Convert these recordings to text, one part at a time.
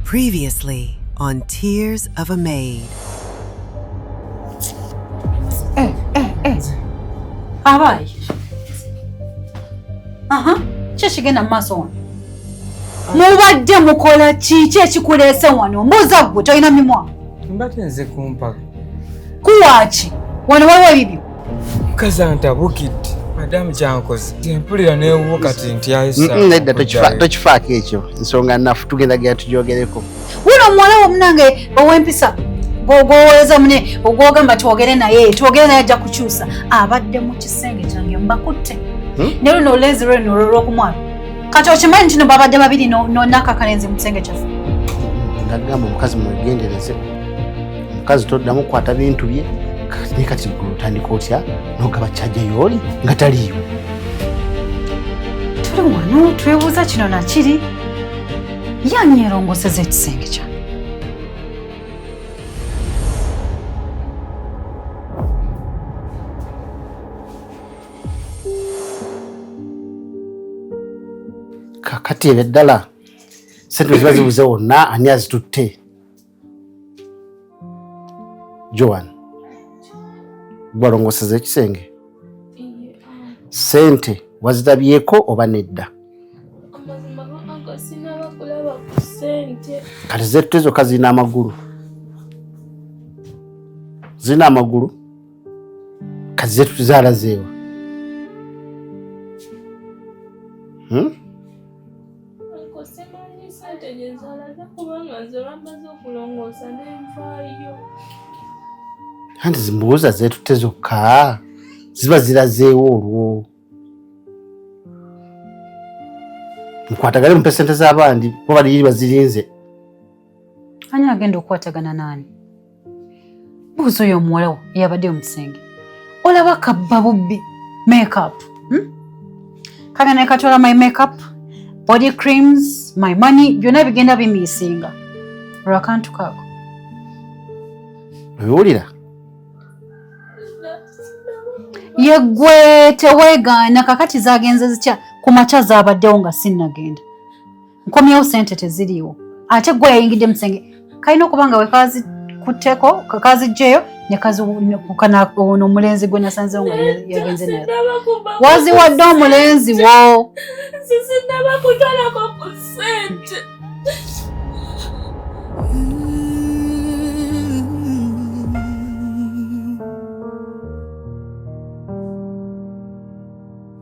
Previously on Tears of a Maid. Eh, eh, eh. Abaye. Aha, kyo kigenda mu maaso wano. Mubadde mukola kiki ekikuleese wano? Mbuuza ggwe tolina mimwa. Mbadde nze kumpaka. Kuwaaki? Wano waliwo ebibyo. mukazi antabukidde madamu kyankoze tempulira newuwo kati ntyayisnedda tokifaako ekyo nsonga nafu tugenda gera tujogereko wuno omuwala womunange owempisa gwowoleza mune ogwogamba twogere naye twogere naye ajja kukyusa abadde mu kisenge kyange mbakutte hmm? ne luno olezi lweno olwokumwana kati okimanyi ntino babadde babiri nonakakalenzi mu kisenge kyaffe nagamba omukazi mwegendereze mukazi toddamu kukwata bintu bye ne kati gwe otandika otya nogaba kyajja yooli nga taliiwo tuli wano twebuuza kino nakiri yani yerongoseza ekisenge kya kakati ebyo ddala sente ziba zibuze wonna ani azitutte Joan, gwalongoseza ekisenge sente wazirabyeko oba nedda? Kati zetute zokka zirina amagulu, zirina amagulu, kati zetute zaalazeewa hmm? Simanyi sente gye zalaga kubanga nze bamaze okulongoosa n'envaayo. Anti zimbuuza zeetutte zokka ziba zirazeewo olwo. Mukwatagale mumpe sente z'abandi kuba bali bazirinze. ani agenda okukwatagana naani buuza oyo omuwalawo eyabadde mu kisenge olaba kabba bubbi makeup hmm? kale naye katwala my makeup body creams my money byonna bigenda bimiisinga olwakantu kaako obiwulira yeggwe teweegaana kakati zagenze zitya ku makya zaabaddewo nga sinnagenda nkomyewo sente teziriiwo ate gwe yayingidde musenge kalina okuba nga wekazi kutteko kakazijjeyo nekazikukanaona omulenzi gwe nasanzewo nga yagenze naye waziwadde omulenzi wo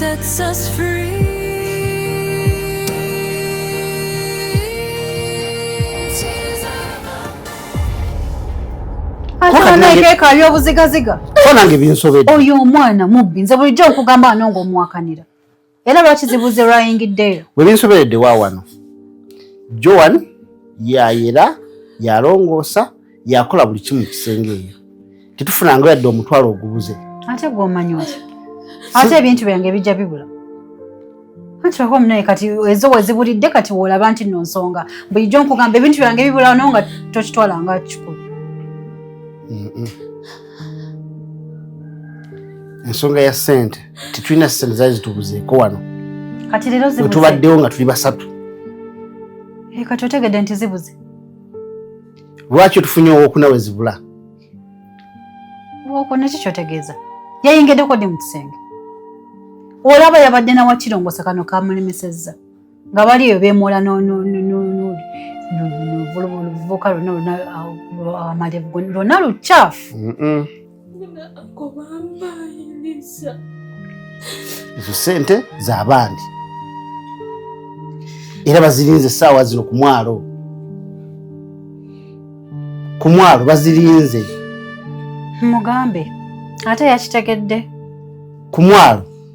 sets us free. oyo omwana mubbi nze bulijjo nkugamba ano ng'omuwakanira era lwaki zibuze lwayingiddeyo bwe binsoberedde wa wano joan yayera yalongoosa yakola buli kimu kisenge eyo tetufunanga yadde omutwalo ogubuze ate gwomanyi otya ate ebintu byange bijja bibula anti oba omunaye kati ezo wezibulidde kati woolaba nti no nsonga bulijjo nkugamba ebintu byange bibulawo no nga tokitwala nga kikulu ensonga ya sente tetulina sente zali zitubuzeeko wano kati leero zibuze tubaddewo nga tuli basatu eh, kati otegedde nti zibuze lwaki otufunye owokuna we zibula owokuna ki kyotegeeza yayingiddeko ddi mu kisenge olaba yabadde nawakirongosa kano kamulemesezza nga bali eyo beemoola luvubuka lwona amalevu lwona lukyafu ezo sente zabandi era bazirinze esaawa zino ku mwalo ku mwalo bazirinze mugambe ate yakitegedde ku mwalo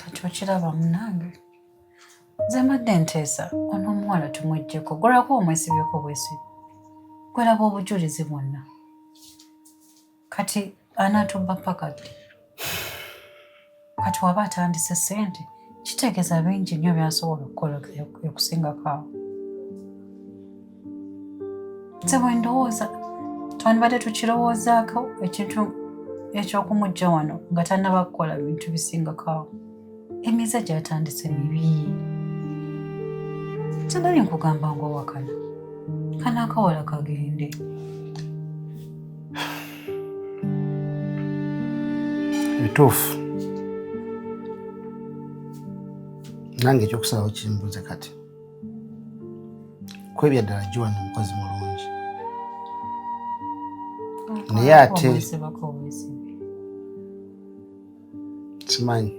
kati okiraba munange nze mbadde nteesa on'omuwala tumwejjeko gwolaba omwesibyeko bwesibi gwolaba obujulizi bwonna kati anaatubba paka ddi kati waba atandise sente kitegeeza bingi nnyo byasobola okukola okusingako awo nze bwe ndowooza twandibadde tukirowoozaako ekintu ekyokumujja wano nga tannaba kukola bintu bisingako awo emize gyatandise mibi sinali nkugamba nga owakana kana akawala kagende bituufu nange ekyokusalawo kimbuze kati kwebya ddala joan mukozi mulungi naye ate simanyi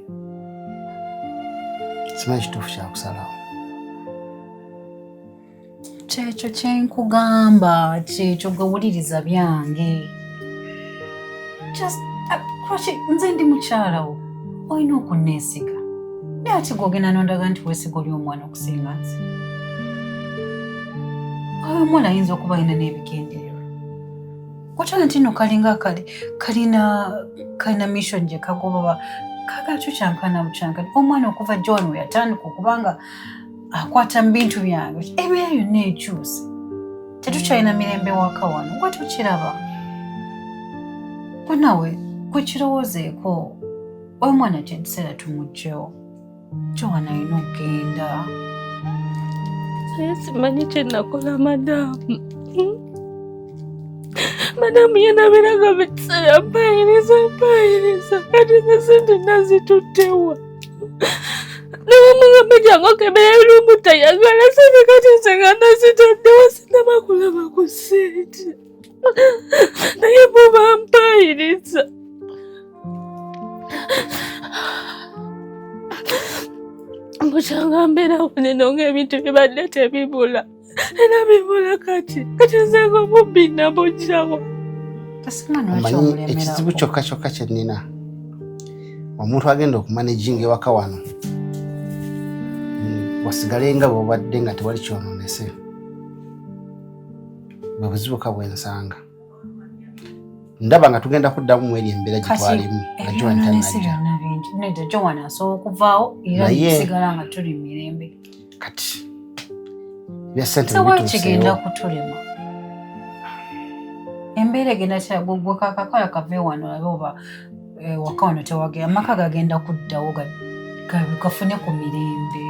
simanyi kituufu kyakusalawo kyekyo kyenkugamba kyekyo gawuliriza byange lwaki uh, nze ndi mukyalawo olina okunneesiga naye ati gwogenda nondaga nti weesiga oli omwana okusinga nze oyo omwana ayinza okuba alina n'ebigendererwa Kotona tino kalinga kali kalina kalina mission gye kagoba kaga kyo kyankana mukyanga omwana okuva John we yatandika okubanga akwata mu bintu byange ebeera yonna ekyuse tetukyalina mirembe waka wano gwe tukiraba banawe kukirowoozeeko omwana kyetuseera tumugyewo Joana alina okugenda. Naye simanyi kye nakola madaamu. Hmm? Madaamu ye nabeeranga buli kiseera mpaayiriza mpaayiriza kati ze sente nazituttewa. Namugambe jangu okebera ebirumu tayagala sente kati nze nga nazitaddewa sinaba kulaba ku sente. naye buba mpaayiriza mbukyanga mbeerawo neno ng'ebintu bibadde tebibula era bibula kati kati nzenga omubbi nabujjawo omanyi ekizibu kyokka kyokka kye nnina omuntu agenda okumanejinga ewaka wano wasigale nga bwobadde nga tewali kyononese bwe buzibuka bwensanga ndaba nga tugenda kuddamu mweri embeera gye twalimu nga joan tanajja nedda joan asobola okuvaawo era tusigala nga tuli mu mirembe kati bya sente kigenda kutulema embeera egenda kyagogwe kakakala kave wano alabe oba Eh, waka wano tewagera amaka gagenda kuddawo gafune ku mirembe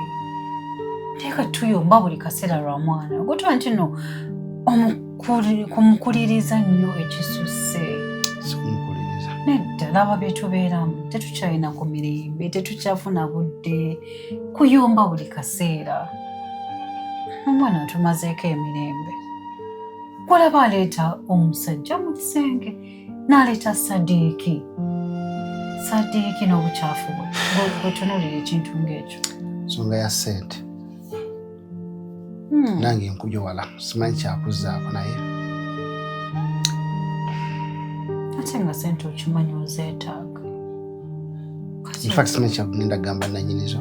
teeka tuyomba buli kaseera lwa mwana ogutwa nti no kumukuliriza nnyo ekisusse nedda laba byetubeeramu tetukyalina ku mirembe tetukyafuna budde kuyomba buli kaseera omwana atumazeeko emirembe kulaba aleeta omusajja mu kisenge naleeta sadiiki sadiiki n'obukyafu bwe bwetunulira ekintu ng'ekyo nsonga ya sente hmm. nange nkujo wala simanyi kyakuzaako naye ate nga sente okimanyi ozeetaaga infact simanyi kyagenda gamba nanyinizo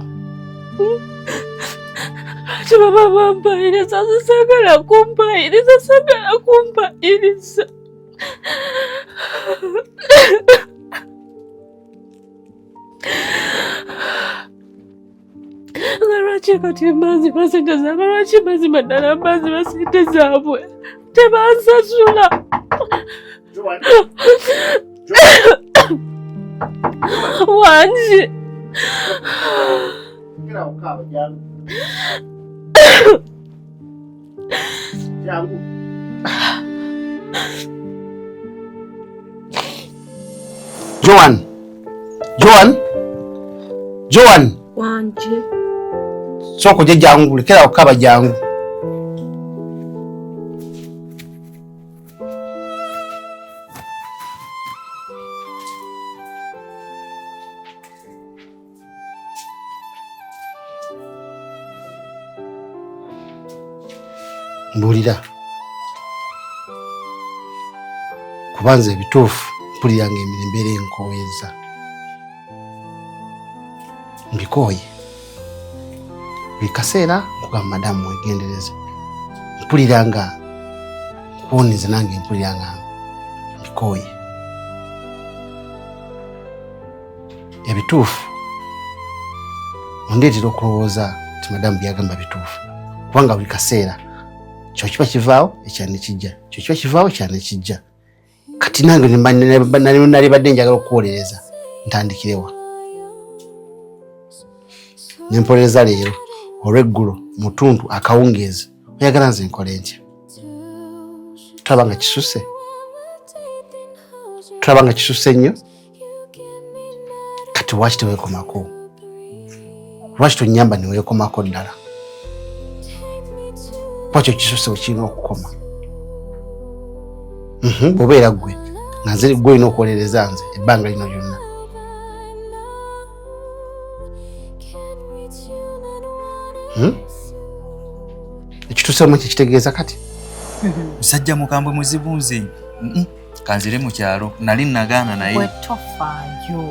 ati baba bampayiriza sisagala kumpayiriza sagala kumpayiriza lwaki kati embazi basente zaabwe lwaki mazima ddala mbazi basente zaabwe tebansasula wangi yangu Joan, Joan, Joan wanje soko je jangu lekera okaba jangu mbulira kuba nze ebituufu mpulira nga emirembeera enkoweza mbikooye buli kaseera nkugamba madamu wegendereze mpulira nga nkuwonize nange mpulira nga mbikooye ebituufu ondeetera okulowooza nti madamu byagamba bituufu kubanga buli kaseera kyokiba kivaawo ekyana ekijja kyokiba kivaawo ekyana ekijja kati nange nali badde njagala okuwolereza ntandikirewa nempolereza leero olweggulo mutuntu akawungeezi oyagala nze nkole ntya tulaba nga kisuse tulaba nga kisuse nnyo kati lwaki tewekomako lwaki tonyamba newekomako ddala kwakyo kisose wekirina okukoma mhm, bwobeera gwe nga nze gwe olina okuwolereza nze ebbanga lino lyonna hmm? ekituusemu kyekitegeeza kati musajja mukambwe muzibu nze kanzire mu kyalo nali nagaana naye wetofaayo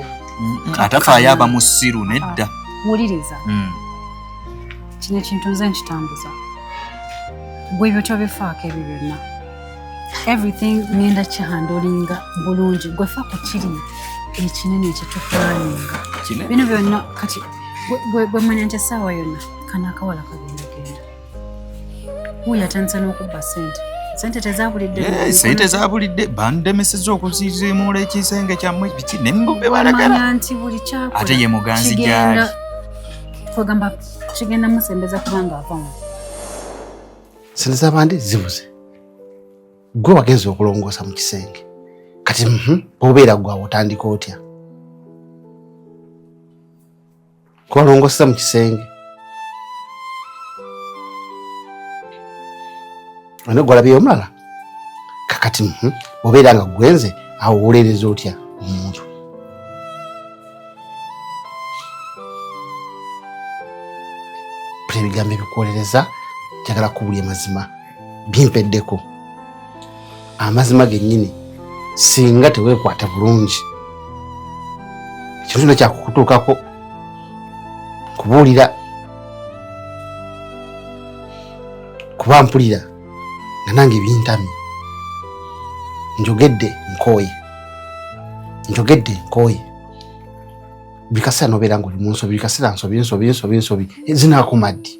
atafaayo aba musiru nedda ah, wuliriza mm. kino ekintu nze nkitambuza gwe ebyo tobifaako ebyo byonna everything ngenda kihandolinga bulungi gwe fa ku kiri ekinene ekitukuwaninga bino byonna kati gwemanya nti essaawa yonna kanaakawala kagenda genda wuuyo atandisa n'okubba sente sente tezabulidde eh, sente zabulidde bandemeseza okuzizimuula ekisenge kyammwe biki ne mbube balagala nti buli kyakola ate ye muganzi gyali kwegamba kigenda musembeza kubanga avamu sente zabandi zibuze gwe wagenza okulongoosa mu kisenge kati mhm, obeera gwawe otandika otya kubalongosa mu kisenge ane gwalabiyo omulala kakati mhm, obeera nga gwenze awo wolereza otya omuntu ebigambo ebikuwolereza njagala kubulya mazima bimpeddeko amazima gennyini singa teweekwata bulungi ekintu kino kyakukutuukako kubuulira kuba mpulira nga nange bintamye njogedde nkooye njogedde nkooye buli kaseera nobeera nga oli mu nsobi buli kaseera nsobi nsobi nsobi nsobi zinaakuma ddi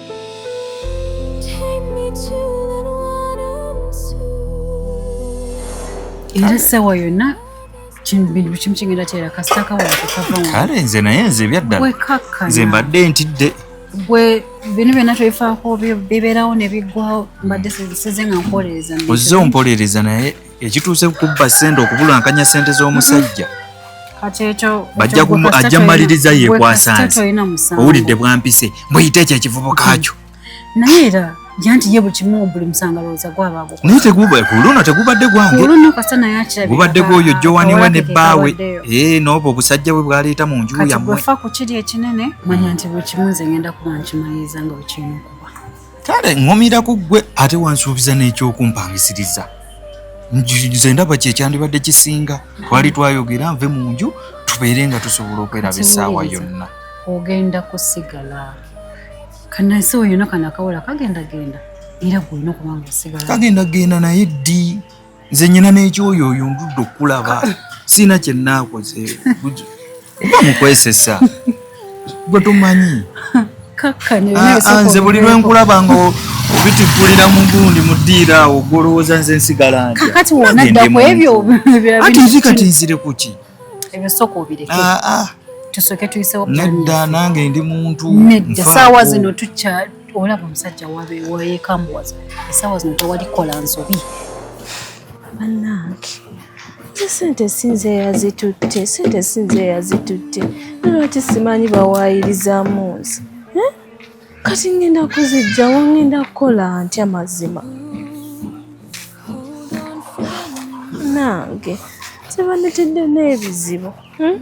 era essaawa yonna bintu kimu kigenda kyera kasita kawala kekavamu kale nze naye nze ebyaddala nze mbadde ntidde gwe bino byonna twefaako bibeerawo ne biggwawo mbadde size nga mpolereza ozze ompolereza naye ekituuse ku kubba ssente okubulankanya ssente z'omusajja bajja kumu ajja maliriza yekwasanze owulidde bwampise muyite ekyo ekivubuka kyo naye era janti ye buli kimu buli musanga lowooza gwabaago naye teguba ku luno tegubadde gwange oluno kasita naye akirabika gubadde gwoyo jowani we ne bbaawe ee eh, n'obwo obusajja bwe bwaleeta mu nju yammwe kati gwefa ku kiri ekinene manya nti buli kimu nze ngenda kuba nkimaliriza nga bwe kirina okuba kale ŋŋumira ku ggwe ate wansuubiza n'ekyokumpangisiriza nze ndaba kye kyandibadde kisinga twali twayogera nve mu nju tubeere nga tusobola okweraba essaawa yonna ogenda kusigala kanansi wo yonna kano akawola kagenda genda era gwolina okubanga osigala kagenda genda naye ddi nze nyina n'ekyoyo oyo ndudde okulaba siina kyenaakoze oba mukwesesa gwe tomanyi ah, ah, nze buli lwenkulaba nga obitikulira mu gundi mu ddiiro awo gwolowooza nze nsigala nti nzi kati nzire kuki ebyo sooka obireke ah, ah. tusoke tuyisewo nedda nange ndi muntu nedda saawa zino tukya olaba omusajja wayekambuwaza esaawa zino tewalikola nsobi banange sente sinze yazitutte sente sinze yazitutte nolwaki simanyi bawaayirizamu nze kati ngenda kuzijja wa ngenda kukola ntya mazima nange tebanetedde n'ebizibu hmm?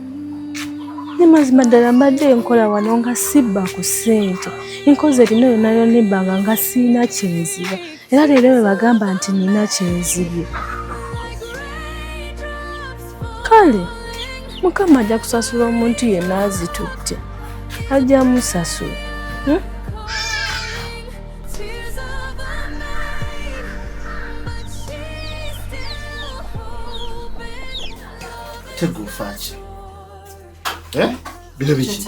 ne mazima ddala mbadde nkola wano nga sibba ku ssente nkoze erina yonayona ebbanga nga siina kyenziba era leero bwe bagamba nti nina kyenzibye kale mukama ajja kusasula omuntu yenna azitutte ajja musasula hmm? tegufaaki eh? bino biki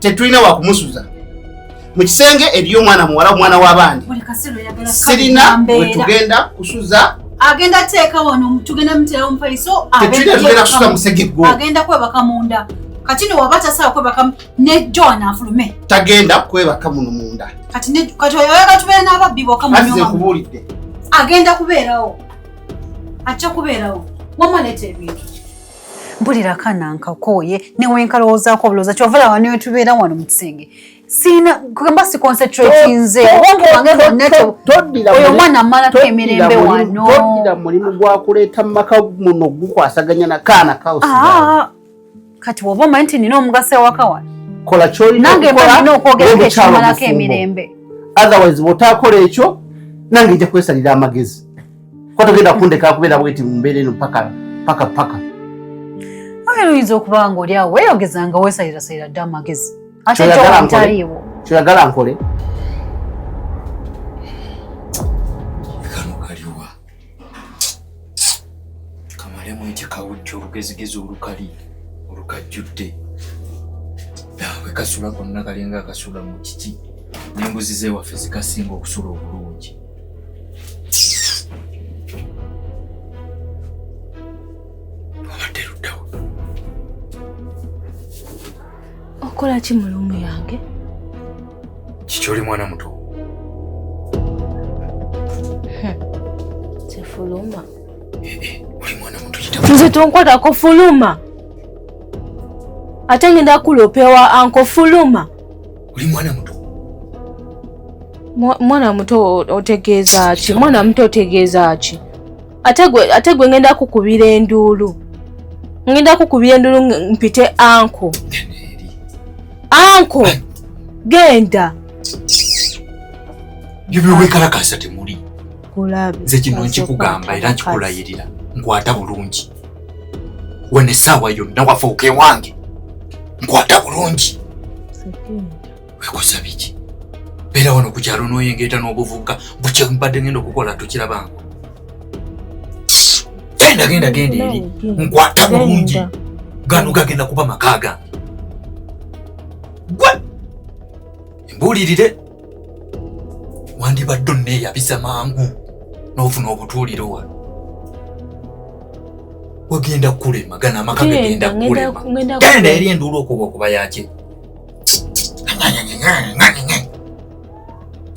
tetulina wakumusuza mu kisenge eriyo omwana muwala omwana w'abandi sirina wetugenda kusuza agenda teeka wano tugenda muterawo mufaliso tetulina tugenda kusuza musegeggo agenda kwebaka munda kati no waba tasaa kwebaka ne john afulume tagenda kwebaka muno munda kati oyoyaga tubeera n'ababbi boka mukubuulidde agenda kubeerawo ajja kubeerawo wamaleeta ebintu mpulira akaana nkakooye newenkalowoozaako obulowooza kyova laba niwe tubeera wano mu kisenge siina kugamba si concentrate nze oh, obwongo bwange bwonnaoyo omwana amalako emirembe wanotoddira mulimu gwakuleeta mu maka muno gukwasaganya na kaana kaosi ah, kati woba omanyi nti nina omugaso ewaka wano kola kyolinange mbalina okwogerako ekimalako emirembe otherwise bwotakola ekyo nange nja kwesalira amagezi Kwa togenda kundeka kubeera bweti mu mbeera eno paka paka paka. Ayo oyinza okuba nga oli awo weeyogeza nga weesalirasalira dda amagezi. Ate kyoyagala nkole. Kyoyagala nkole. olugezigezi olukali olukajjudde we kasula konna kalinga akasula mu kiki n'embuzi z'ewaffe zikasinga okusula obulungi okola ki mu luumu yange kikyoli mwana muto tefuluma eh, eh, oli mwana muto nze tonkwatako fuluma ate ngenda kulopewa anko fuluma oli mwana muto mwana muto otegeeza ki mwana muto otegeeza ki ate gwe ngenda kukubira enduulu ngenda kukubira enduulu mpite anko anko genda byebyowekalakasa temuli nze kino nkikugamba era nkikulayirira nkwata bulungi wano essaawa yonna wafuuka ewange nkwata bulungi wekosa biki beera wano ku kyalo n'oyengeeta n'obuvubuka bukye mbadde ngenda okukola tukirabango genda genda genda eri nkwata bulungi gano gagenda kuba maka gange gwe mbuulirire wandibadde onneeyabisa mangu n'ofuna obutuuliro wa wagenda kulema gana amaka gagenda kulema genda eri enduulu okuba okuba yaki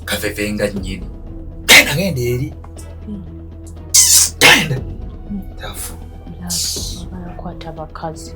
kaveve nga nyini genda genda eri hmm. genda hmm. tafu abakwata abakazi